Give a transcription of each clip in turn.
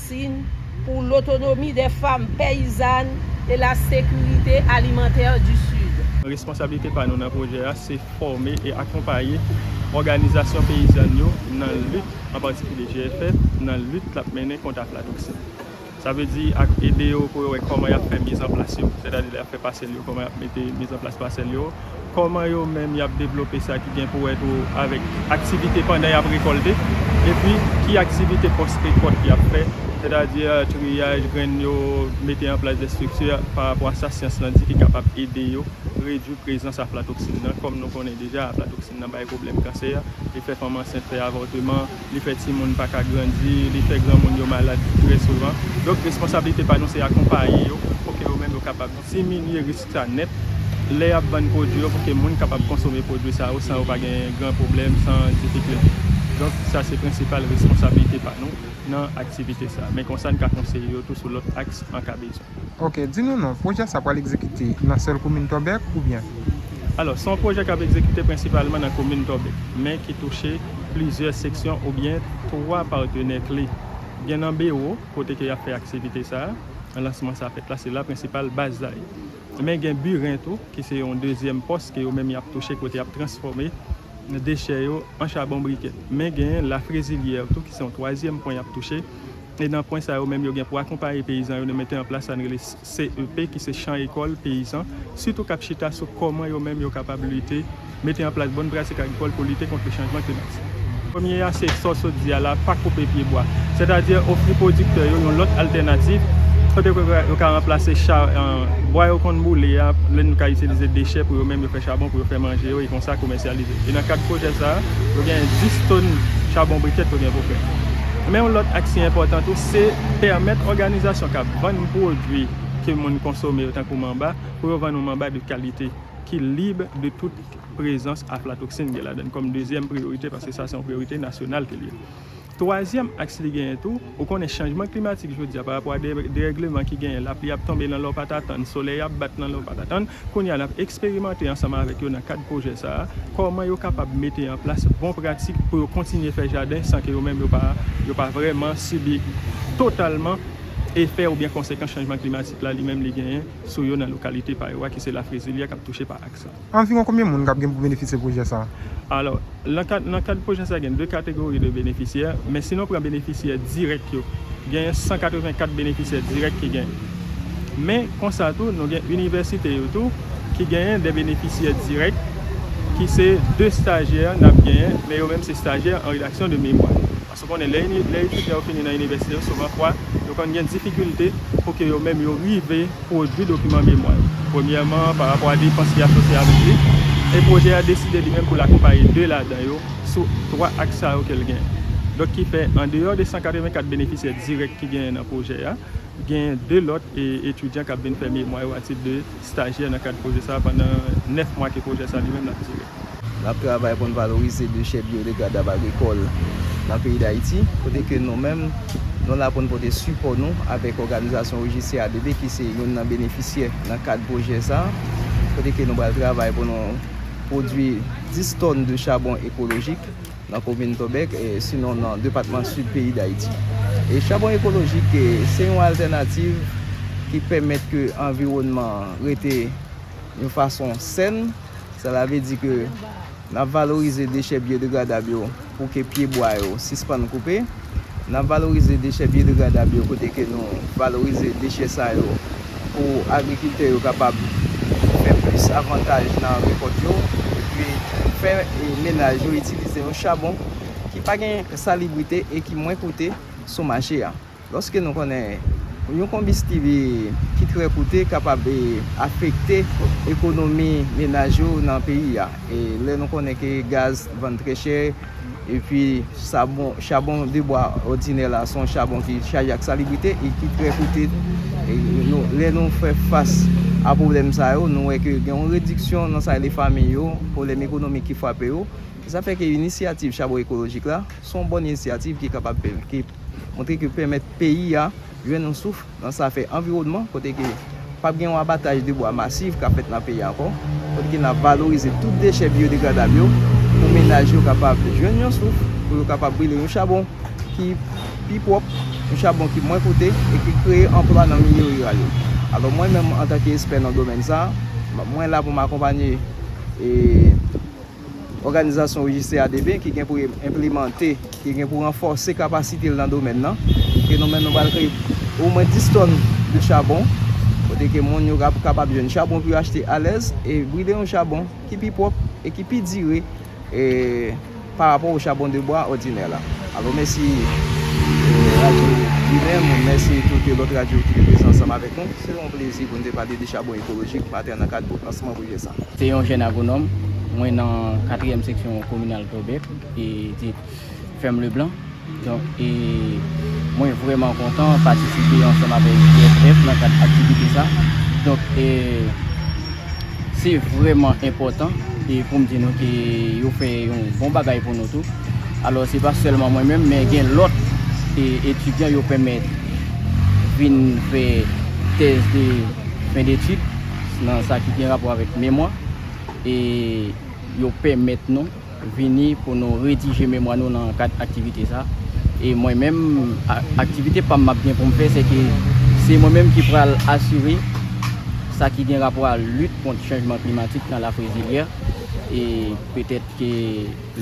Sin, pou lotonomi dè fam peyizann e la sekirite alimantè di Sid. Responsablite pa nou nan pwojè a se fòme e akonpaye òganizasyon peyizann yo nan lit, an patikilye GFF, nan lit lap mennen kont aflatoksin. Sa vle di ak ede yo pou yo wè kòman yap fè mizanplas yo, sètadi lè yap fè pasèl yo kòman yap mete mizanplas pasèl yo, Kòman yo menm y ap devlope sa ki gen pou wè tou avèk aktivite pandan y ap rekòlte, epi ki aktivite pòs rekòt y ap fè, sètadi triyaj grenn yo, mete an plas destrikti parapò a sa syans lan di ki kapab ede yo redui prezans aflatoksin nan. Kòm nou konnen deja aflatoksin nan bay pwoblèm kansè, li fè fanm ansent fè avòteman, li fè timoun pa ka grandi, li fè granmoun yo malad trè souvan. Donk responsablite pa nou se akonpaye yo pou ke yo menm yo kapab diminye risk. sa nèt lè y ap vann pwodui yo pou ke moun kapab konsome pwodui sa yo san yo pa gen gran pwoblèm, san difikilte. Donk, sa se prensipal reskonsablite pa nou nan aktivite sa. Men konsa n ka konseye yo tou sou lòt aks an ka bezwen. Ok, di nou non, pwojè sa pral egzekite nan sèl komin Tòbèk oubyen? Alò, se yon pwojè k ap egzekite prensipalman nan komin Tòbèk, men ki touche plizyè seksyon oubyen twa patenè kle. Gen nan Bewo. Kote ke yap fè aktivite sa a, lansman sa a fèt la, se la prensipal baz la ye. Men gen biren tou, ki se yon dezyèm pòs ke yo menm yap touche kote yap transfòme dechè yo an chabon brikè. Men gen la frezilyè tou ki se yon twazyèm pwen yap touche. E nan pwen sa yo menm yo gen pou akonpaye peyizan yo nan mete an plas sa nou rele. CEP ki se Chan Ekòl Peyizan, sitou k ap chita sou kòman yo menm yo kapab lite, mete an plas bon pratik agrikòl pou lite kont le chanjman klimatik. Premye a se, sa w sot di a la, pa koupe pye bwa. Sètadi ofri pwodiktè yo yon lòt altènativ kote ke yo ka ranplase bwa yo konn boule a, lè nou ka itilize dechè pou yo menm yo fè chabon pou yo fè manje yo e konsa komèsyalize. E nan kad pwojè sa a, yo genyen 10 tòn chabon brikèt yo gen pou fè. Men yon lòt aksyon enpòtan tou se pèmèt òganizasyon k ap. Vann pwodwi ke moun konsome yo tankou manba, pou yo vann yon manba de kalite, ki lib de tout prezans aflatoksin gen ladann kòm dezyèm priyorite paske sa se yon priyorite nasyonal ke li ye. Twazyèm aks li genyen tou, ou konnen chanjman klimatik jodi a parapò a derègleman ki genyen, lapli ap tonbe nan lè w pa t atann, solèy ap bat nan lè w pa t atann, kounye a n ap eksperimante ansanm avèk yo nan kad pwojè sa a, kòman yo kapab mete an plas bon pratik pou yo kontinye fè jaden san ke yo menm yo pa vrèman sibi totalman. efè oubyen konsekans chanjman klimatik la li menm li genyen sou yo nan lokalite pa yo a ki se Lafrezilyè k ap touche pa aks la. Anviwon konbyen moun k ap gen pou benefisye pwojè sa a? Alò, lan kad lan kad pwojè sa a gen 2 kategori de benefisyè, men si nou pran benefisyè dirèk yo, genyen 184 benefisyè dirèk ki gen. Men, konsa tou, nou gen inivèsite yo tou ki genyen de benefisyè dirèk ki se 2 stajyè n ap genyen, men yo menm se stajyè an redaksyon de memwa. Ou konnen, lè etidyan yo fini nan inivèsite yo, souvan fwa, yo konn gen difikilte pou ke yo menm yo rive pwodui dokiman memwa yo. Premyèman, pa rapò a depans ki asosye avèk li, e pwojè a deside li menm pou l akonpaye de ladan yo sou twa aks sa yo ke l genyen. Donk ki fè, an deyò de 184 benefisyè dirèk ki genyen nan pwojè a, genyen de lòt etidyan k ap vin fè memwa yo a tit de. Stajyè nan kad pwojè sa a pandan 9 mwa ke pwojè sa li menm ap dire. N ap travay pou n valorize dechè biyodegradab agrikòl nan peyi Dayiti, kote ke nou menm nou la pou n pote sipò nou avèk òganizasyon OJCADB ki se youn nan benefisyè nan kad pwojè sa a, kote ke nou pral travay pou nou pwodui 10 tòn de chabon ekolojik. nan komin Tòbèk, sinon nan depatman Sid peyi Dayiti. Chabon ekolojik se yon altènativ ki pèmèt ke anviwònman an rete yon fason sèn, sela vle di ke n ap valorize dechè byodegradab yo pou ke pyebwa yo sispann koupe. N ap valorize dechè byodegradabb yo kote ke nou valorize dechè sa yo pou agrikiltè yo kapab fè plis avantaj nan rekòt yo epi fè menaj yo itilize yon chabon ki pa gen salibrite e ki mwen koute sou mache a. Lòske nou konnen yon konbistib ki trè koute kapab afekte ekonomi menaj yo nan peyi a e lè nou konnen ke gaz vann trè chè, Epi chabon de bwa òdinè la son chabon ki chaje ak salibrite e ki trè koute. Lè nou fè fas a pwoblèm sa yo, nou wè ke gen yon rediksyon nan sa rele famin yo, pwoblèm ekonomik ki frape yo. Se sa fè ke inisyativ chabon ekolojik la son bòn inisyativ ki kapab montre ke pèmèt peyi a jwenn yon souf. Nan zafè anviwònman, kote ke pap gen yon abataj de bwa masif kap fèt nan peyi a ankò, kote ke nap valorize tout dechè biyodegradab yo pou menaj yo kapab jwenn yon souf, pou yo kapab brile yon chabon ki pi pwòp, yon chabon ki mwen koute e ki kreye anplwa nan milye riral yo. Alò mwen menm antanke espè nan domèn sa, mwen la pou m akonpanye e. òganizasyon rejiste ADP ki gen pou enplemante, ki gen pou ranfòse kapasite l nan domèn nan, ke nou menm nou pral kreye omwen 10 tòn de chabon, kote ke moun yo ap kapab jwenn chabon pou yo achte alèz, e brile yon chabon ki pi pwòp e ki pi dire pa rapò o chabon de bwa òdinè la. Alo mèsi radyo Ginen moun, mèsi tout lòt radyo ki te prezan ansanm avèk nou. Se yon plezi pou nou te pale de chabon ekolojik maten nan kad lansman. Pye sa. Se yon jèn agwonòm, mwen nan katriyèm seksyon kominal Tòbèk e di fèm Leblan. Donk e mwen vrèman kontan patisipe ansanm avèk GFF nan kad aktivite sa. Donk e se vrèman enpòtan e pou m di nou ke yo fè yon bon bagay pou nou tou. Alò se pa sèlman mwen menm men gen lòt e etidyan yo pèmèt vin fè tèz de fen detid. nan sa ki gen rapò avèk memwa e yo pèmèt nou vini pou nou redije memwa nou nan kad aktivite sa e mwen menm aktivite pam map gen poum fè se ke se mwen menm ki pral asire sa ki gen rapò a lit kont chanjman klimatik nan lafrezilyè e petèt ke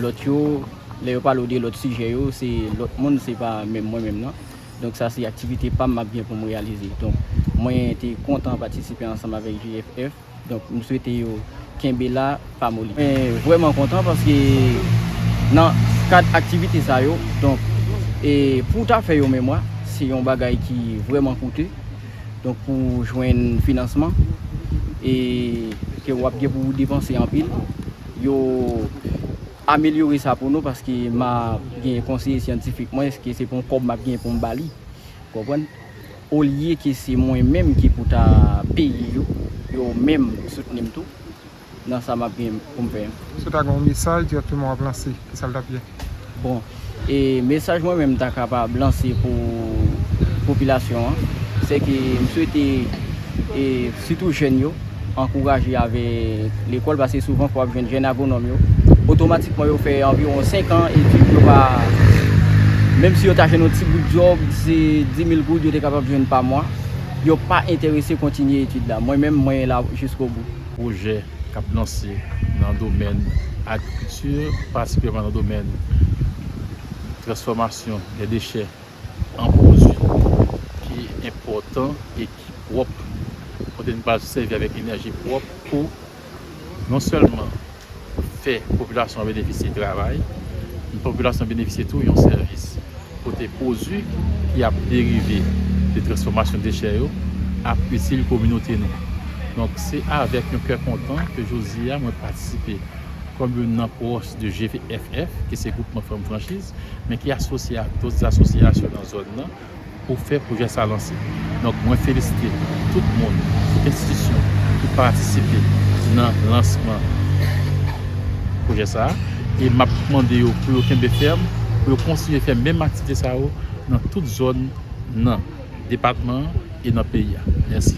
lòt yo lè yo pale w de lòt sijè yo se lòt moun se pa menm mwen menm nan. Donk sa se aktivite pa m m ap gen pou m reyalize. Donk mwen te kontan patisipe ansanm avèk GFF. Donk m swete yo kenbe la, pa moli. Mwen vrèman kontan paske nan kad aktivite sa yo, donk e pou w ta fè yon memwa, se yon bagay ki vrèman koute. Donk pou w jwenn finansman e ke w ap gen pou w depanse anpil. Yo. amelyore sa pou nou paske ma gen konseye syantifik mwen eske se pou kòb map gen poum bali ou konprann olye ke se mwen menm ki pou ta peye yo yo menm soutnim tou nan sa map gen poum fè an. Si w ta gen yon mesaj dirèkteman wap lanse, kisal tap ye? Bon. E mesaj mwen menm ta kapab lanse pou popilasyon an, se ke m swete e sitou jèn yo ankouraje avèk lekòl paske souvan fò w ap jwenn jèn agwonòm yo otomatikman yo fè anviwon 5 an etid yo pa menm si yo ta jwenn yon ti bout djòb se 10000 goud yo te kapab jwenn pa mwa yo pa enterese kontinye etid la mwen menm mwen la jiskobou. pwojè. k ap lanse nan domèn agrikilti, patikilyèman nan domèn transfòmasyon lè dechè an pwodui ki enpòtan e ki pwòp, kote n pral sèvi avèk enèji pwòp pou non sèlman fè popilasyon an benefisye travay, men popilasyon an benefisye tou yon sèvis. kote pwodui ki ap derive de transfòmasyon dechè yo ap itil kominote nou. Donk, se avèk yon kè kontan ke jodi a mwen patisipe kòm youn nan pwòch de GFF, ki se Gwoupman Fanm Franchiz, men ki asosye ak dòt asosyasyon nan zòn nan pou fè pwojè sa lan. Donk mwen felisite tout moun, tout enstitisyon ki patisipe nan lansman pwojè sa a e m ap mande yo pou yo kenbe fèm, pou yo kontinye fè menm aktivite sa yo nan tout zòn nan depatman an e nan peyi a. Mèsi.